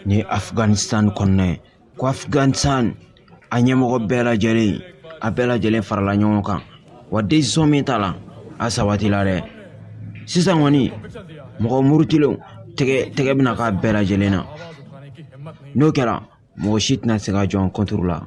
ni ye afghanistan kɔnɔna ye ko afghanistan a ɲɛmɔgɔ bɛɛ lajɛlen a bɛɛ lajɛlen farala ɲɔgɔn kan wa desisɔn min ta la a sabatila dɛ sisan kɔni mɔgɔ murutilenw tɛgɛ tɛgɛ bɛna k'a bɛɛ lajɛlen na n'o kɛra mɔgɔ si tɛna se ka jɔ an contre la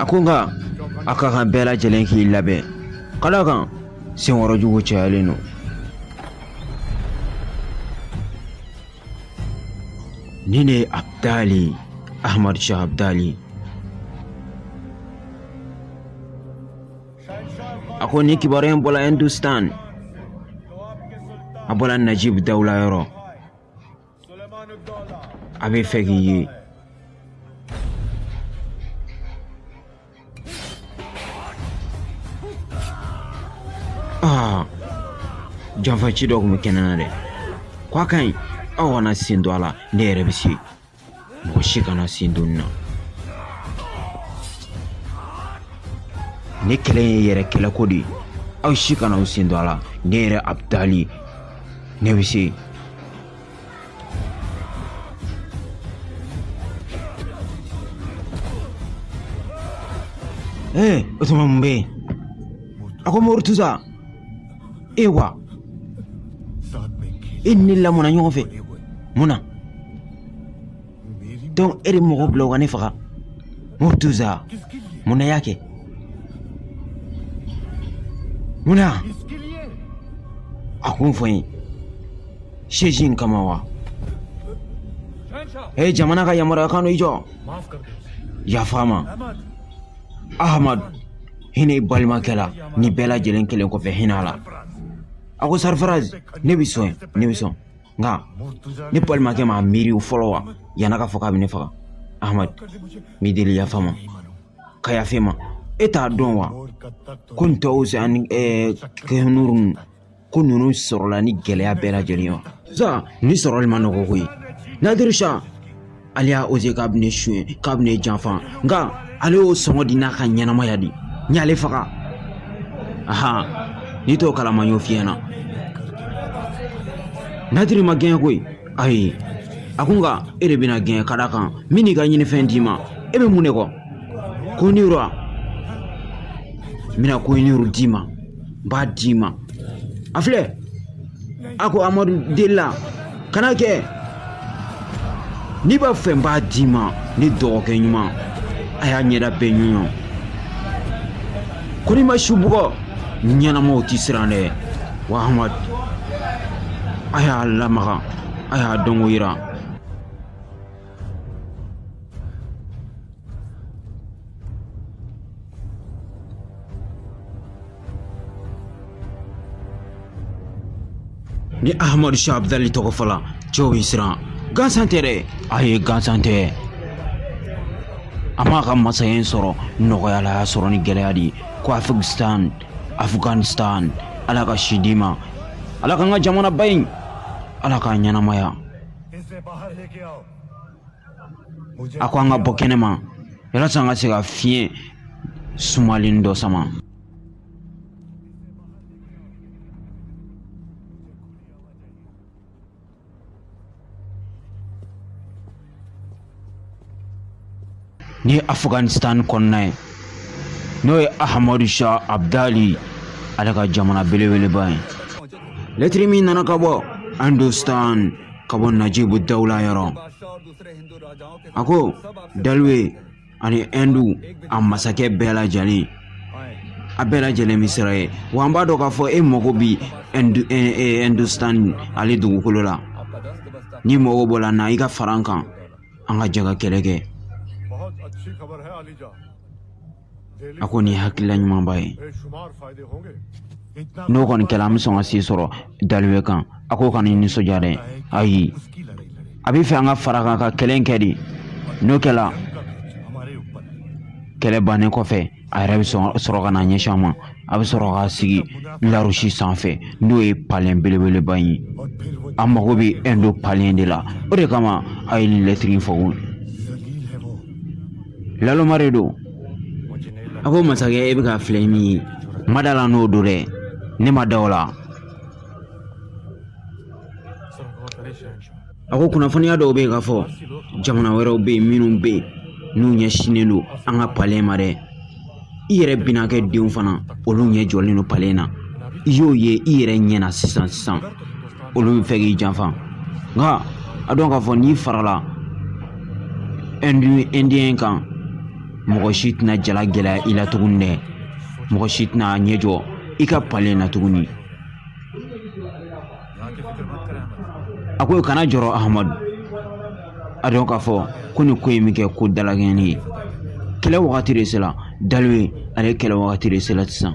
a ko nka a ka kan bɛɛ lajɛlen k'i labɛn ka d'a kan senkɔrɔ jugu cayalen don ni ne abdali ahmad shah abdali a ko ni kibaruya in bɔla hindustan a bɔla najib dawula yɔrɔ a bɛ fɛ k'i ye aa janfaci dɔ tun bɛ kɛnɛ na dɛ ko a ka ɲi aw kana sen don a la ne yɛrɛ bɛ se mɔgɔ si kana sen don na ne kɛlɛ ye yɛrɛ kɛlɛko de ye aw si kana aw sen don a la ne yɛrɛ abdali ne bɛ se ee o tuma mun bɛ yen a ko murtuza e wa e ni ne lamɔna ɲɔgɔn fɛ mun na donc e de mɔgɔ bila u ka ne faga murtuza mun na y'a kɛ mun na a kun fɔ n ye seji in kama wa e jamana ka yamaruya kan don i jɔ yafa ma ahmad hinɛ i balimakɛ la ni bɛɛ lajɛlen kelen kɔfɛ hinɛ a la a ko sarfaraz ne bɛ sɔn ne bɛ sɔn nka ne balimakɛ m'a miiri o fɔlɔ wa yan'a ka fɔ k'a bɛ ne faga ahmad n b'i deli yafa ma ka yafa ma e t'a dɔn wa ko nin taus ani kohinoor ko ninnu sɔrɔla ni gɛlɛya bɛɛ lajɛlen ye wa sa ni sɔrɔli ma nɔgɔ koyi nadir shah ale y'a oze k'a bɛ ne suɲɛ k'a bɛ ne janfa nka ale y'o sɔngɔ di n'a ka ɲɛnamaya di n y'ale faga ahan n'i t'o kalama n y'o f'i ɲɛna nadir ma gɛn koyi ayi a ko nka e de bɛna gɛn ka d'a kan n bɛn'i ka ɲinifɛn d'i ma e bɛ mun de kɔ kohinoor n bɛna kohinoor d'i ma n b'a d'i ma a filɛ a ko amadu delila kana kɛ n'i b'a fɛ n b'a d'i ma ne dɔgɔkɛ ɲuman a y'a ɲɛda bɛɛ ɲɔɲɔ ko n'i ma su bugɔ ɲɛnamaw tɛ siran dɛ wa amadu a y'a lamaga a y'a dɔnko yira ni ahamadu sha abdali tɔgɔ fɔla cɛw bɛ siran gansan tɛ dɛ ayi gansan tɛ a m'a ka masaya in sɔrɔ nɔgɔya la a y'a sɔrɔ ni gɛlɛya de ye ko afghanistan afghanistan ala ka si d'i ma ala k'an ka jamanaba in ala k'a ɲɛnamaya a ko an ka bɔ kɛnɛma yalasa an ka se ka fiɲɛ sumalen dɔ sama nin ye afghanistan kɔnɔna ye n'o ye ahamadu sha abdali ale ka jamana belebeleba ye lɛtiri min nana ka bɔ hindustan ka bɔ najibu dawula yɔrɔ a ko daliwe ani hindu a masakɛ bɛɛ lajɛlen a bɛɛ lajɛlen bɛ siran ye wa an b'a dɔn k'a fɔ e mago bi hindustan ale dugukolo la n'i mago b'o la na i ka fara an kan an ka jɛ ka kɛlɛ kɛ a ko nin ye hakilila ɲumanba ye n'o kɔni kɛla an bɛ sɔn ka se sɔrɔ daliwe kan a ko kana nisɔndiya dɛ ayi a b'a fɛ an ka fara a kan ka kɛlɛ in kɛ de n'o kɛla kɛlɛ bannen kɔfɛ a yɛrɛ bɛ sɔrɔ ka na ɲɛsin an ma a bɛ sɔrɔ ka sigi larusi sanfɛ n'o ye palen belebeleba in ye a mago bɛ ɛndo palen de la o de kama a ye lɛtiri fɔ naloma de don a ko masakɛ e bɛ k'a filɛ ni min ye ma da la n'o don dɛ ne ma da o la a ko kunnafoniya dɔw bɛ yen k'a fɔ jamana wɛrɛw bɛ yen minnu bɛ yen n'u ɲɛsinnen don an ka palen ma dɛ i yɛrɛ binakɛ denw fana olu ɲɛ jɔlen don palen na i y'o ye i yɛrɛ ɲɛna sisan sisan olu b'a fɛ k'i janfa nka a dɔn k'a fɔ n'i farala indien kan mɔgɔ si tɛna ja lagɛlɛya i la tuguni dɛ mɔgɔ si tɛna ɲɛ jɔ i ka palen na tuguni a ko kana jɔrɔ ahamadu a dɔn k'a fɔ ko nin ko in bɛ kɛ ko dalakɛɲɛni ye kɛlɛ wagati de sera daliwe ale kɛlɛ wagati de sera sisan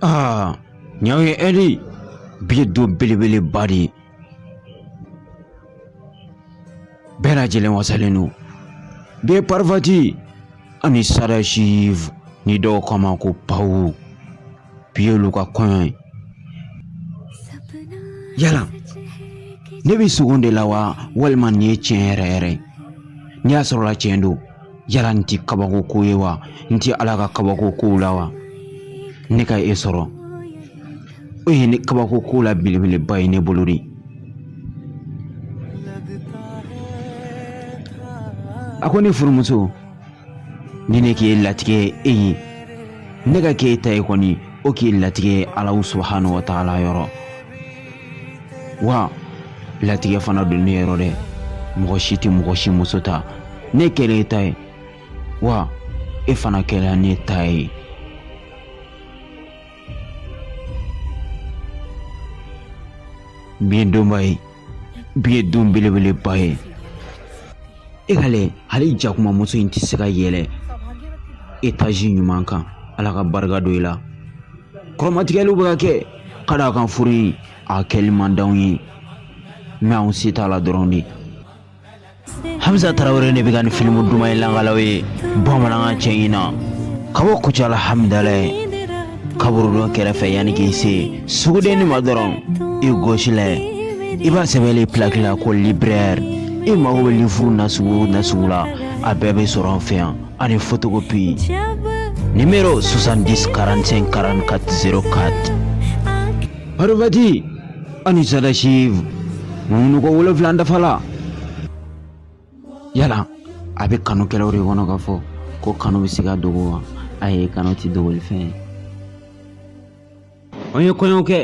Aa nin y'aw ye Edi bi ye don belebeleba de ye bɛɛ lajɛlen wasalen don bi ye Parvati ani Sadashiv ni dɔw k'a ma ko pawu bi y'olu ka kɔɲɔ ye yala ne bɛ sugo de la wa walima nin ye tiɲɛ yɛrɛ yɛrɛ ye n'i y'a sɔrɔla tiɲɛ don yala nin tɛ kabako ko ye wa nin tɛ ala ka kabako kow la wa ne ka e sɔrɔ o ye ne kabako kow la belebeleba ye ne bolo de a ko ne furumuso ni ne k'i latigɛ e ye ne ka k'e ta ye kɔni o k'i latigɛ alahu subahana wa taala yɔrɔ wa latigɛ fana don ne yɔrɔ dɛ mɔgɔ si tɛ mɔgɔ si muso ta ne kɛra e ta ye wa e fana kɛra ne ta ye Bi ye donba ye bi ye don belebeleba ye e k'a lajɛ hali jakumamuso in tɛ se ka yɛlɛ etazi ɲuman kan ala ka barika don i la kɔrɔmatigɛliw bɛ ka kɛ ka d'a kan furu in a kɛli man d'anw ye mɛ anw se t'a la dɔrɔn de hamza tarawele ne bɛ ka nin filimu duman in lakal'aw ye bamanankan cɛɲi na ka bɔ kucala hamidalaye kaburudon kɛrɛfɛ yanni k'i se sugudenni ma dɔrɔn i gosi lajɛ i b'a sɛbɛnlen pilaki la ko librɛri i mago bɛ lifuru nasugu o nasugu la a bɛɛ bɛ sɔrɔ an fɛ yan ani fotokopi nimero 70 45 44 04 Parvati ani Sadashiv munu ko wolonfila dafala yala a bɛ kanukɛlaw de kɔnɔ k'a fɔ ko kanu bɛ se ka dogo wa ayi kanu tɛ dogoli fɛn ye an ye kɔɲɔ kɛ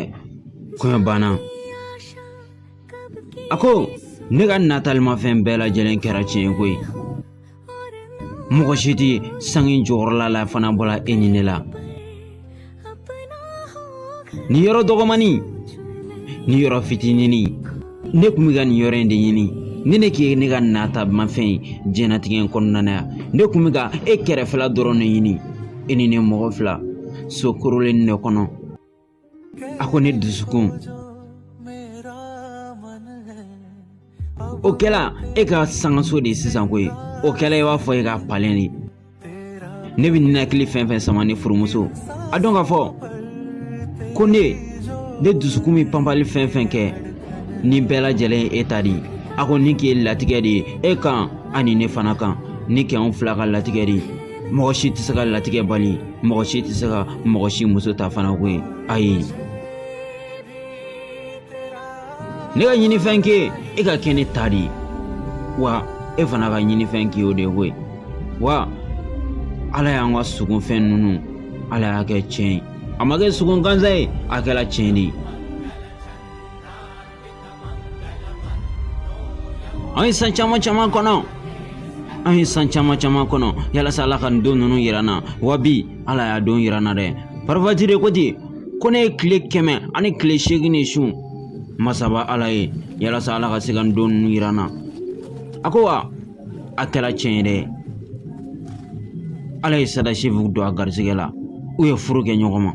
kɔɲɔ banna a ko ne ka natalimafɛn bɛɛ lajɛlen kɛra tiɲɛ ko ye mɔgɔ si tɛ sange jukɔrɔla la fo n'a bɔra e ni ne la nin yɔrɔ dɔgɔmani nin yɔrɔ fitinini ne tun bɛ ka nin yɔrɔ in de ɲini ni ne k'i ye ne ka natamafɛn ye diɲɛnatigɛ in kɔnɔna na yan ne tun bɛ ka e kɛrɛfɛla dɔrɔn de ɲini e ni ne mɔgɔ fila so korolen de kɔnɔ a ko ne dusukun o kɛla e ka sangaso de ye sisan koyi o kɛla i b'a fɔ e ka palɛ de ne bɛ ninakili fɛn fɛn sama ne furumuso a dɔn k'a fɔ ko ne ne dusukun bɛ panpali fɛn fɛn kɛ nin bɛɛ lajɛlen ye e ta de ye a ko nin kɛ ye latigɛ de ye e kan ani ne fana kan nin k'anw fila ka latigɛ de ye mɔgɔ si tɛ se ka latigɛ bali mɔgɔ si tɛ se ka mɔgɔ si muso ta fana koyi ayi ne ka ɲinifɛn kɛ e ka kɛ ne ta de ye wa e fana ka ɲinifɛn kɛ o de koyi wa ala y'an ka sugunfɛn ninnu ala y'a kɛ tiɲɛ ye a ma kɛ sugun gansan ye a kɛra tiɲɛ de ye an ye san caman caman kɔnɔ an ye san caman caman kɔnɔ yalasa ala ka nin don ninnu yira n na wa bi ala y'a don yira n na dɛ parafati de ko ten ko ne ye tile kɛmɛ ani tile seegin de sun masaba ala ye yalasa ala ka se ka nin don ninnu yira n na a ko wa a kɛra cɛn ye dɛ ala ye sadasifu don a garisɛgɛ la u ye furu kɛ ɲɔgɔn ma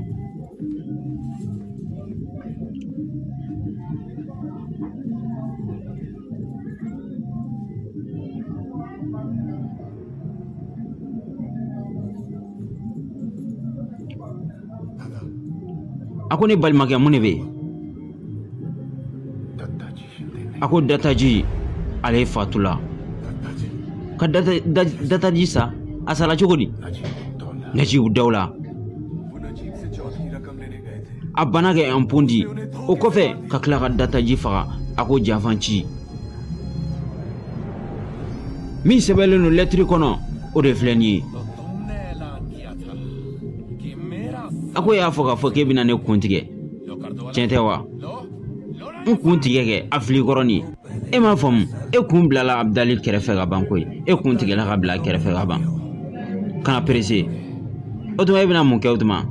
a ko ne balimakɛ mun de bɛ yen a ko dataji ale fatula ka dataji sa a sala cogo di najibu dawula a banna k'ɛnpo di o kɔfɛ ka tila ka dataji faga a ko janfan ci min sɛbɛnlen don lɛtiri kɔnɔ o de filɛ nin ye a ko y'a fɔ k'a fɔ k'e bɛna ne kun tigɛ tiɲɛ tɛ wa n kun tigɛ kɛ a fili kɔrɔni e m'a faamu e kun bilala abudali kɛrɛfɛ ka ban koyi e kun tigɛla k'a bila kɛrɛfɛ ka ban kana perese o tuma e bɛna mun kɛ o tuma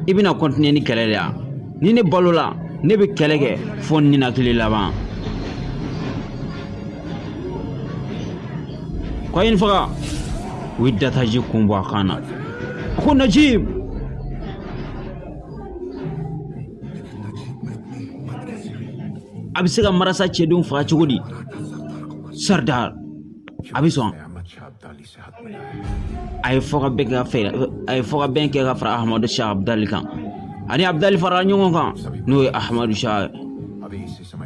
i bɛna kɔntiniye ni kɛlɛ de ya ni ne balola ne bɛ kɛlɛ kɛ fo ninakili laban ko a ye n faga u ye dataji kun bɔ a kan na a ko najibu a bɛ se ka marasa cɛdenw faga cogo di saridari a bɛ sɔn a ye fɔ ka bɛn kɛ ka fara ahamadu sa abudali kan ani abudali farala ɲɔgɔn kan n'o ye ahamadu sa ye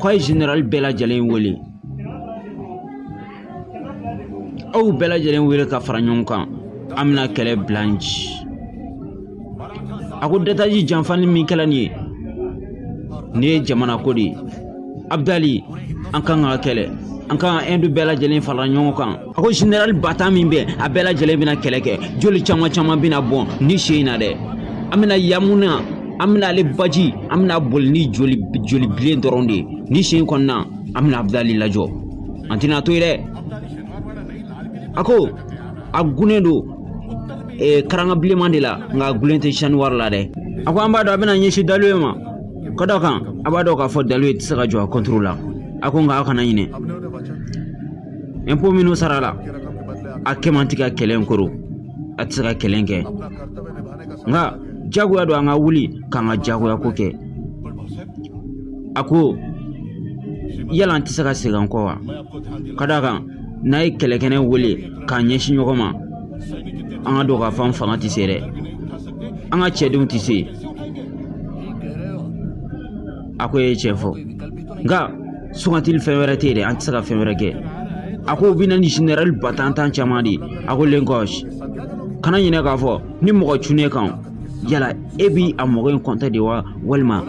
k'a ye zenerali bɛɛ lajɛlen wele aw bɛɛ lajɛlen wele ka fara ɲɔgɔn kan an bɛna kɛlɛ bila n ci a ko dataji janfani min kɛla nin ye nin ye jamana ko de ye abudali an kan ka kɛlɛ an kan ka ɛndu bɛɛ lajɛlen fara ɲɔgɔn kan a ko generali bata min bɛ a bɛɛ lajɛlen bɛna kɛlɛ kɛ joli caman caman bɛna bɔn nin sen in na dɛ an bɛna yamuna an bɛna ale baji an bɛna boli ni joli bilen dɔrɔn de ye nin sen kɔnɔna an bɛna abudali lajɔ an tɛna to yen dɛ a ko a gunnen don eh, karanga bilenman de la nka a gulen tɛ saniwari la dɛ a ko an b'a dɔn a bɛna ɲɛsin daluye ma ka d'a kan a b'a dɔn k'a fɔ daluye tɛ se ka jɔ a kɔntoro la a ko nka aw kana ɲinɛ ɛnpo minnu sarala a kɛ man tɛ ka kɛlɛ in koro a tɛ se ka kɛlɛ in kɛ nka jagoya don an ka wuli k'an ka jagoya ko kɛ a ko yala an tɛ se ka segin an kɔ wa ka d'a kan n'an ye kɛlɛkɛnɛ wele k'an ɲɛsin ɲɔgɔn ma an k'a dɔn k'a fɔ an fanga tɛ se dɛ an ka cɛdenw tɛ se a ko e ye tiɲɛ fɔ nka sugantili fɛn wɛrɛ tɛ yen dɛ an tɛ se ka fɛn wɛrɛ kɛ a ko u bɛ na ni generali batantan caman de ye a ko lenkɔsi kana ɲinɛ k'a fɔ ni mɔgɔ cunna e kan yala e bi a mɔgɔ in kɔntɛ de wa walima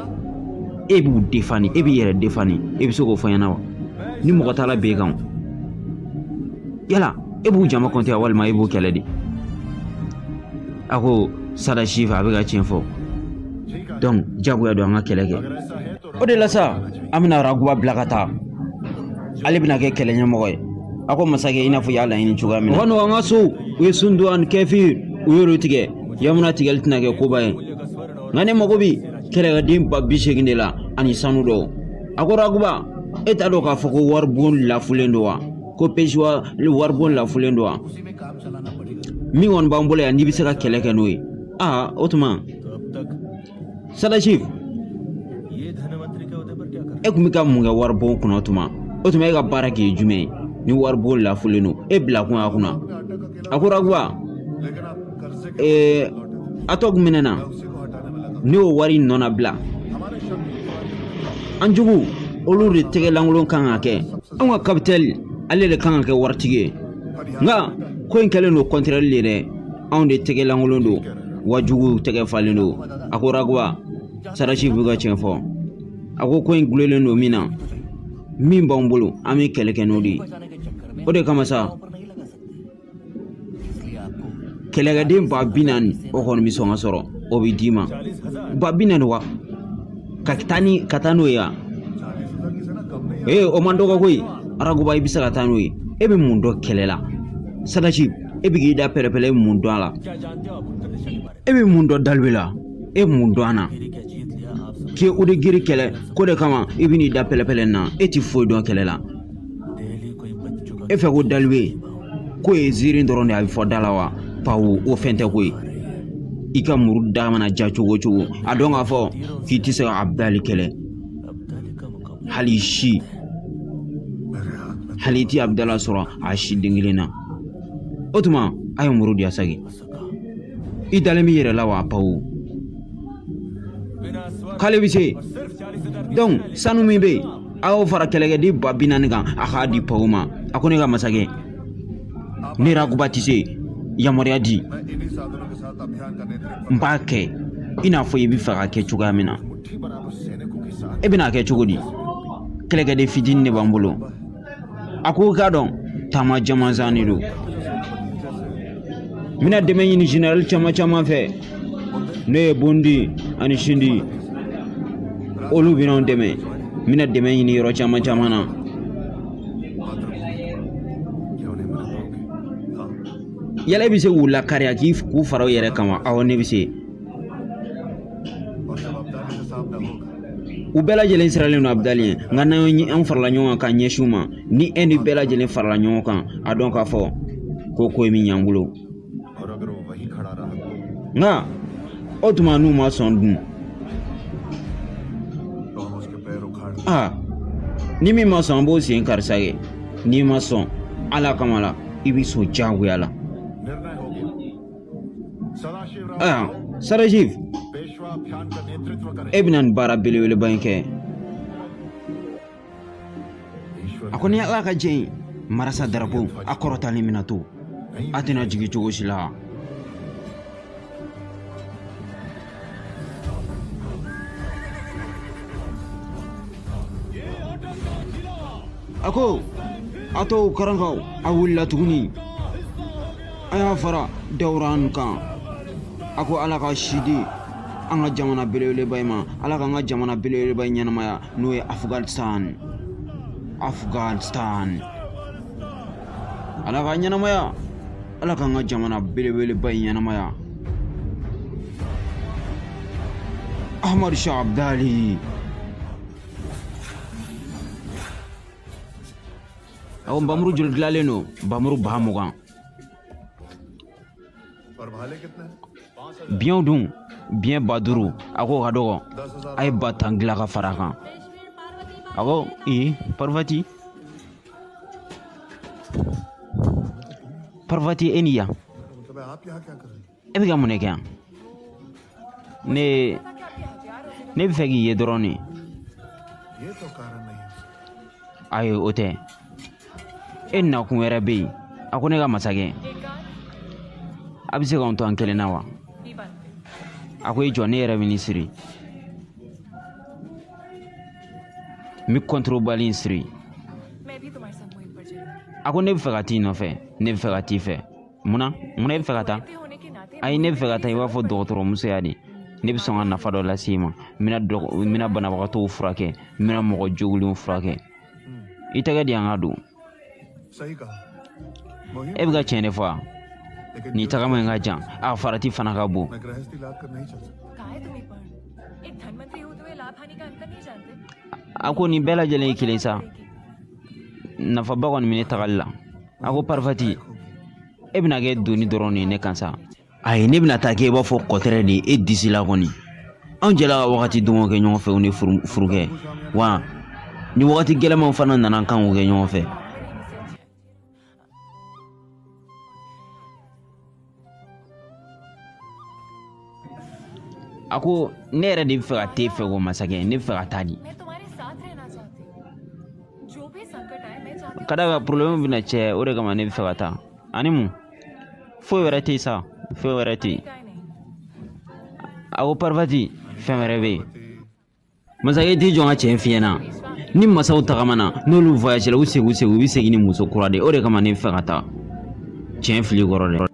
e b'u defani e b'i yɛrɛ defani e bɛ se k'o fɔ n ɲɛna wa ni mɔgɔ taala b'e kan yala e b'u jama kɔntɛ walima e b'u kɛlɛ de a ko sadasifu a bɛ ka tiɲɛ fɔ dɔnki jagoya don an ka kɛlɛ kɛ o de la sa an bɛna raguba bila ka taa ale bɛna kɛ kɛlɛ ɲɛmɔgɔ ye a ko masakɛ i n'a fɔ i y'a laɲini cogoya min na o ka nɔgɔ an ka sow ye sundu ani kɛfir u y'olu tigɛ yamuna tigɛli tɛna kɛ koba ye nka ne mago bi kɛlɛkɛden ba bi seegin de la ani sanu dɔw a ko raguba e t'a dɔn k'a fɔ ko waribon lafulen don wa ko pesiwa waribon lafulen don wa min kɔni b'an bolo yan n'i bɛ se ka kɛlɛ kɛ n'o ye aa o tuma sadasifu e kun bɛ ka mun kɛ waribon kunna tuma o tuma e ka baara kun ye jumɛn ye ni waribon lafulen don e bila kun a kunna a ko raguba atɔki minɛna ne y'o wari in nɔnabila an jugu olu de tɛgɛ lankolon kan ka kɛ anw ka kapitɛni ale de kan ka kɛ waritigi ye nka ko in kɛlen don kɔntɛrɛli de ye dɛ anw de tɛgɛ lankolon don wajuguw tɛgɛ falen don a ko ragoba sadasi bɛ ka tiɲɛ fɔ a ko ko in gulonlen don min na min b'an bolo an bɛ kɛlɛ kɛ n'o de ye o de kama sa kɛlɛkɛden ba bi naani o kɔni bɛ sɔn ka sɔrɔ o bɛ d'i ma ba bi naani wa ka taa n'o ye wa o man dɔgɔ koyi ragoba i bɛ se ka taa n'o ye e bɛ mun dɔn kɛlɛ la sadasi e bɛ k'i da pɛrɛpɛrɛ e bɛ mun dɔn a la e bɛ mun dɔn dalibi la e bɛ mun dɔn a na k'i o de giri kɛlɛ ko de kama i bɛ n'i da pɛrɛpɛrɛ na e ti foyi dɔn kɛlɛ la e fɛ ko dalibi ko ye ziiri dɔrɔn de a bɛ fɔ da la wa pawu o fɛn tɛ ko ye i ka muru da mana diya cogo o cogo a dɔn k'a fɔ k'i tɛ se ka abudali kɛlɛ hali si hali i ti abudali sɔrɔ a si den kelen na o tuma a ye muru di a sa kɛ i dalen b'i yɛrɛ la wa pawu k'ale bɛ se donc sanu min bɛ yen a y'o fara kɛlɛkɛden ba bi naani kan a k'a di pawu ma a ko ne ka masakɛ ne ragoba tɛ se yamaruya di n b'a kɛ i n'a fɔ i b'a fɛ k'a kɛ cogoya min na e bɛna a kɛ cogo di kɛlɛkɛden fitinin de b'an bolo a ko k'a dɔn taama jamanjan de don n bɛna dɛmɛ ɲini generali caman caman fɛ n'o ye bondi ani sindi olu bɛna an dɛmɛ n bɛna dɛmɛ ɲini yɔrɔ caman caman na yala i bɛ se k'u lakari k'i k'u fara u yɛrɛ kan wa awɔ ne bɛ se u bɛɛ lajɛlen siranlen don abudali ɲɛ nka n'an farala ɲɔgɔn kan ka ɲɛsin u ma ni ɛndi bɛɛ lajɛlen farala ɲɔgɔn kan a dɔn k'a fɔ ko ko in mina ɲ'an bolo nka o tuma n'u ma sɔn dun aa ni min ma sɔn an b'o sen kari sa kɛ n'i ma sɔn ala kama la i bɛ sɔn diyagoya la sadasiv e bɛna nin baara belebeleba in kɛ a ko ni ala ka jɛn ye marasa darapo a kɔrɔtalen mina to a tɛna jigin cogo si la a ko a to karankaw a wulila tuguni a y'a fara dawuran kan a ko ala ka si di an ka jamana belebeleba in ma ala k'an ka jamana belebeleba in ɲɛnamaya n'o ye afghanistan afghanistan ala k'a ɲɛnamaya ala k'an ka jamana belebeleba in ɲɛnamaya ahmad shah abdali awɔ nbamuru joli dilanlen don nbamuru ba mugan biɲɛw dun biɲɛ ba duuru a k'o ka dɔgɔ a ye ba tan dilan ka fara a kan a ko ee parvati parvati e ni yan e bɛ ka mun de kɛ yan ne bɛ fɛ k'i ye dɔrɔn de ayi o tɛ e nakun wɛrɛ bɛ yen a ko ne ka masakɛ a bɛ se k'an to an kelen na wa a ko i jɔ ne yɛrɛ bɛ nin siri n bɛ kɔntorobali in siri a ko ne bɛ fɛ ka t'i nɔfɛ ne bɛ fɛ ka t'i fɛ munna munna i bɛ fɛ ka taa ayi ne bɛ fɛ ka taa i b'a fɔ dɔgɔtɔrɔmusoya de ne bɛ sɔn ka nafa dɔ lase i ma n bɛna banabagatɔw furakɛ n bɛna mɔgɔ jogilenw furakɛ i tɛgɛ di yan n k'a don e bɛ ka tiɲɛ de fɔ wa nin tagama in ka jan a farati fana ka bon a ko nin bɛɛ lajɛlen ye kelen sa nafaba kɔni bɛ ne tagali la a ko parvati e bɛna kɛ doni dɔrɔn de ye ne kan sa ayi ne bɛna taa kɛ i b'a fɔ kɔtɛrɛ de ye e disi la kɔni anw jɛla ka wagati dumanw kɛ ɲɔgɔn fɛ o ne furukɛ wa ni wagati gɛlɛnmanw fana nana an kan k'u kɛ ɲɔgɔn fɛ a ko ne yɛrɛ de bɛ fɛ ka t'e fɛ ko masakɛ ne bɛ fɛ ka taa de ka da a kan problème bɛ n n'a cɛ o de kama ne bɛ fɛ ka taa ani mun foyi wɛrɛ tɛ yen sa foyi wɛrɛ tɛ yen a ko parvati fɛn wɛrɛ bɛ yen masakɛ t'i jɔ n ka tiɲɛ f'i ɲɛ na ni masaw tagamana n'olu voyagera u segin u segin u bɛ segin ni muso kura de ye o de kama ne fɛ ka taa tiɲɛ fili kɔrɔ dɛ